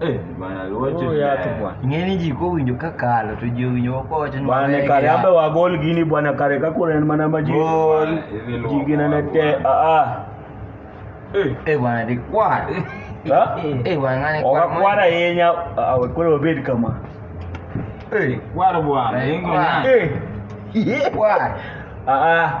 Eh, bana wote oh, ya tu bwana. Ngeni jiko winjo kakalo to je winjo wako wacho ni bana kare ambe wa gol gini bwana kare kakura ni mana maji. Gol. Jigina na te a a. Eh, eh bwana de kwa. Ha? Eh bwana ngani kwa. Okakwara yenya awe kule obedi kama. Eh, kwara bwana. Ingo na. Eh. Kwara. Ah ah.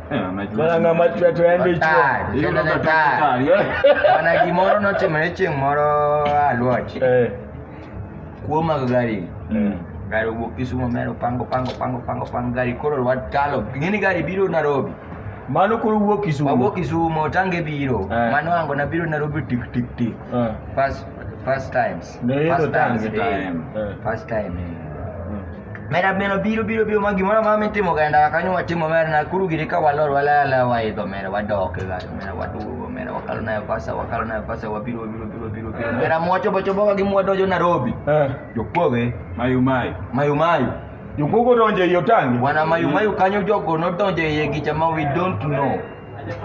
Eh, mana ng'ama chwe to en be chwe mana gimoro notimore chieng' moro aluoch eh. kuo mag gari eh. gari owuok kisumo mero pango pango pango pango pango gari koro lwat kalo ing'eni gari biro narobi mano koro wuok kisumo wuok kisumo tange biro mano ango na biro narobi tik tik tik first first times First time today. First time. Mera beno biro biro biro magi mwana mama timo kaenda kanyo watimo mera na kuru girika walor wala la wa ido mera wadok ga mera wadugo mera wakalo na pasa wakalo na pasa wabiro biro biro biro biro mera mwacho bocho boga gi mwadojo Nairobi. Eh. Jokoge mayu mayu. Mayu mayu. Jokogo donje yotangi. Wana mayu mayu kanyo jogo no donje yegicha ma we don't know.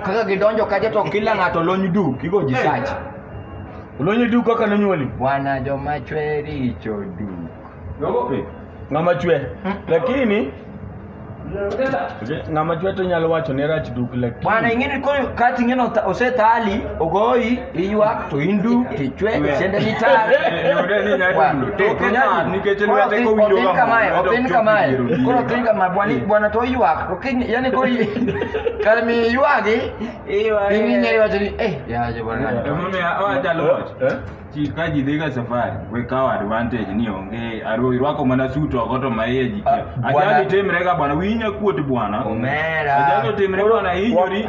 Kaka gidonjo kaje to kila ng'ato lony du kigo ji sach. Lony du kaka nonyuoli. Bwana joma chwe richo du. Nogope. Ng'ama chwe. Hmm. Lakini ng'ama chwe to nyalo wacho ne rach duk lakini. Bwana ingine kati ingine osetali ogoi Iywa tuindu tichwe sende nitare kamae koro tin kama bwani bwana to ywak to kin yani ko kar mi ywagi piny nyeri wacho ni eh yaje bwana ka ji dhiga safari we kawo advantage ni onge aro irwako mana suit oko to maiye jikia ajali timrega bwana winya kuot bwana omera ajali timre bwana hinyori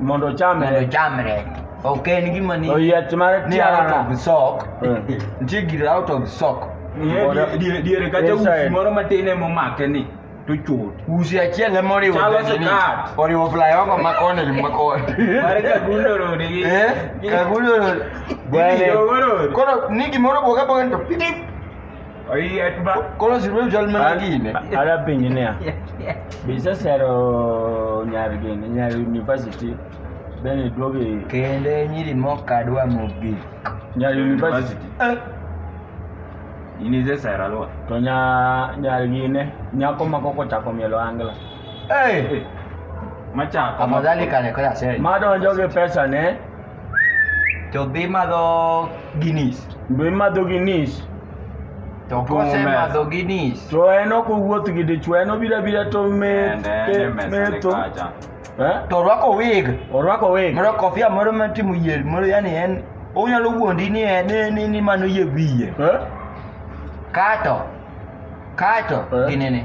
mondo ochamre mondo ochamre ok en gima ni oyiech mar tiara sok nitie gir out of sok diere kacha usi moro matin ema omake ni to chot usi achiel ema oriwo chalo sikat oriwo flyover ma koni gi ma koni mare kagundo rode gi eh kagundo rode koro ni gimoro boga boga to pidi Koro si ruem chal mana gine. Ara penjo niya, be isesero nyar gini, nyar university, then iduogo i- Kendo e nyiri mokadwa mogik. nyar university, In is a Sarah Lord. to nya- nyar gine, nyako ma koko chako mielo angla. Hey! Machako. Afadhali kale kwa sasa. Madonjo gi pesa ne, to dhi madho ginis be imadho gi nis to Opongo mesa. kosemadho ginis to en ok owuoth gi dichwo en obiro abira to met- Ende, ende e- mesa ni metho kacha. Eh? to orwako wig orwako wig moro kofia moro matimo yier moro yani en onyalo wuondi ni en ni- ni ni mano yie wiye Eh? kato kato Eh. ginene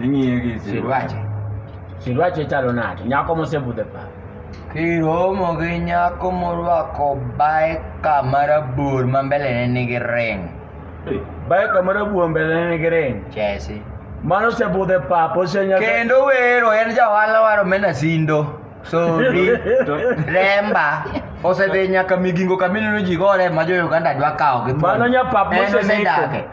Ing'iye gi Sirwache. Sirwache chalo nade? Nyako mosebudho e paro. Kiromo gi nyako morwako bae kama rabur ma mbelene nigi ring. Bae kama rabur mbelene nigi ring. Chesi. Mano osebudho e pap, osenyako. Kendo wero en jaohala mar omena sindo. Sori, remba. Osedhi nyaka migingo kamineno ji gore ma jo Uganda dwa kawo gi thuon. Mano nyapap moseneko. En osedake.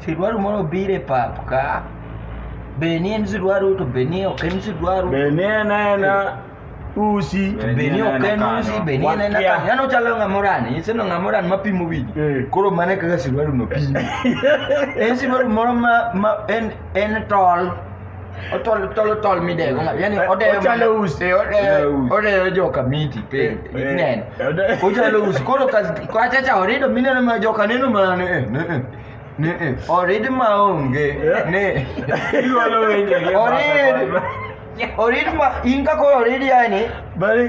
Sidwaru moro biro e pap ka. Be ni en sidwaru to be ni ok en sidwaru. Be ni en ena usi. Be ni ok en usi, be ni en ena kano. Yano chalo ng'amoran, iseno ng'amoran mapimo wigi. Eh. Koro mane kaka sidwaru no pimo. En sidwaru moro ma, ma en, en tol. Otolo tolo tol midego ng'ato. Yaani Eh, odeyo ochalo mana- usi. Eh, odeyo Ochalo usi. odeyo joka miti pe. Eh, eh, Neno. odeyo- Ochalo usi. Koro ka kwa chacha orido mineno ma joka neno mana ne eh, ne eh, ne eh. Orid ma onge Eh. ne. Iwalo wenye. Orid. Orid ma in ka koro orid yani Bali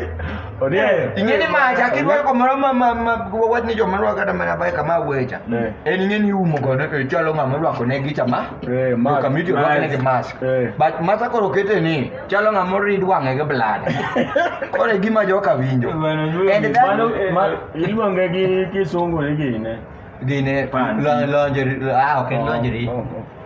Odiayo. Ingeni ma chaki dwa ko moro ma ma ma wad ni joma rwa kata mana bai kama wecha. Eh. En ingeni umo go ne ke chalo ngama rwa ko ne gicha ma. Eh, ma mask, kamiti rwa ne mask. ke mask. Eh. But masa koro kete ni chalo ngama rid wange ge blada. Kore gima joka winjo. And that Mano eh, ma- iluonge gi kisungu ni gine. gine Pan. lonjeri ah okay lonjeri. Oh, oh.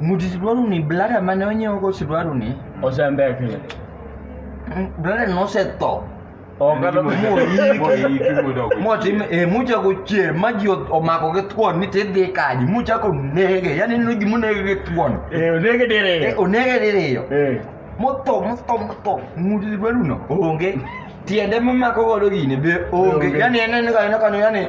Muti sidwaru ni blada mane onyiewo go sidwaru ni. Osembekni. Mm, Blada no osetho. Ogalo motim e muchako chier ma ji omako gi thuon ni tidhi kaji muchako nege yani neno gima onege gi thuon eh, onege diriyo eh, onege diriyo eh. motho motho motho ng'ut dwaruno onge tiende momako godo gini be onge yani en en ka en kano yani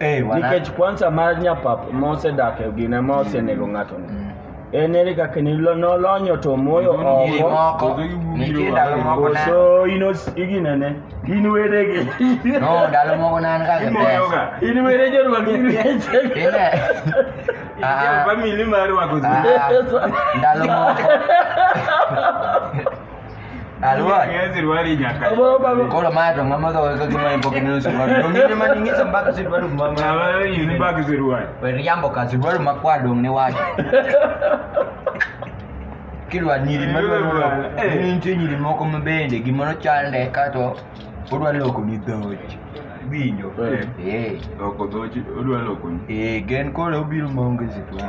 Eh, Nikech kwanza mar nyapap mosedak e gine ma osenego mm. ng'ato ni. Mm. En eri kaka ni nolonyo to moyo oko. Nitie ndalo moko na. So ino igine ne. In were gi. No, ndalo moko na an ka ke pesa. In were jo rwa gi. Ine. Ah. Family mar rwa go. Ah. Ndalo moko. Kola mato ngama ka weka kima ipo kinyo suruali. Dongine maningiza mpaka suruali mama. Na wewe yuni mpaka suruali. Wewe jambo ka suruali makwa dong ni waje. Kilwa nyiri madwa lwa. Ni nchi nyiri moko mabende gimoro chande kato odwa loko ni dhoji. Winjo. Eh. Loko dhoji odwa loko ni. Eh, gen kole obiro maonge zitwa.